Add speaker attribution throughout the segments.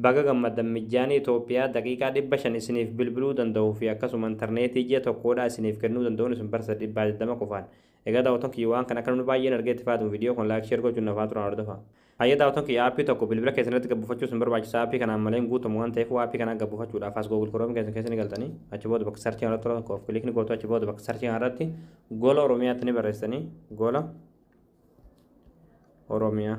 Speaker 1: Baga gammaddan Mijjaanii Itoophiyaa daqiiqaa 500 isiniif bilbiluu danda'uu fi akkasuma interneetii ji'a tokkoodhaa isiniif kennuu danda'uun isin barsiisa dhibbaa 20 qofaan. Egaa daawwattoon kiyya waan kana akka namni baay'een argee itti fayyadamu viidiyoo kana like share gochuun na faana turaan hordofaa. Hayyee daawwattoon kiyya aappii tokko bilbila keessan irratti gad buufachuu isin barbaachisa aappii kanaan malee hin guutamu waan ta'eef aappii kanaa gad buufachuudhaaf as google chrome keessan keessa ni galtanii achi booda bakka searchii kanarratti tokko of click ni gootu achi booda bakka searchii kanarratti gola oromiyaatti ni barreessitanii gola oromiyaa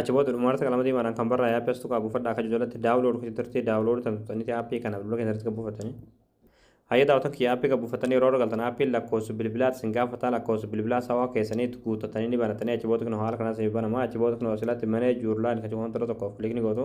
Speaker 1: Achi booda dhumarratti qalama diimaadhaan kan barraa'e aappii as tuqaa buufadhaa akka jalatti daawulood kutti turtee daawulood tan tuqxanitti aappii kana bilbila keessatti kan buufattanii. Hayyee daawwatan kiyya aappii kan buufattanii yeroo irra galtan aappiin lakkoofsa bilbilaa isin gaafataa lakkoofsa bilbilaa sawaa keessanii itti guuttattanii ni banattanii achi booda kunoo haala kanaan isin banama achi booda kunoo silatti manee juurlaan kan cufamu tokko tokkoof kilikni gootu.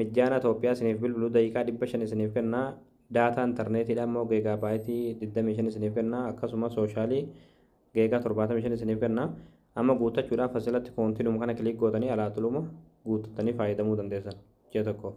Speaker 1: Mijjaana Toophiyaa isiniif bilbilu daqiiqaa 500 isiniif kenna, daataa interneetiidhaa immoo geegaa baayitii 25 isiniif kenna, akkasuma sooshaalii geegaa 75 isiniif kenna. Amma guuttachuudhaaf asirratti koontiinuma kana kiliik gootanii alaa tuluma guuttattanii faayadamuu dandeessan ji'a tokkoof.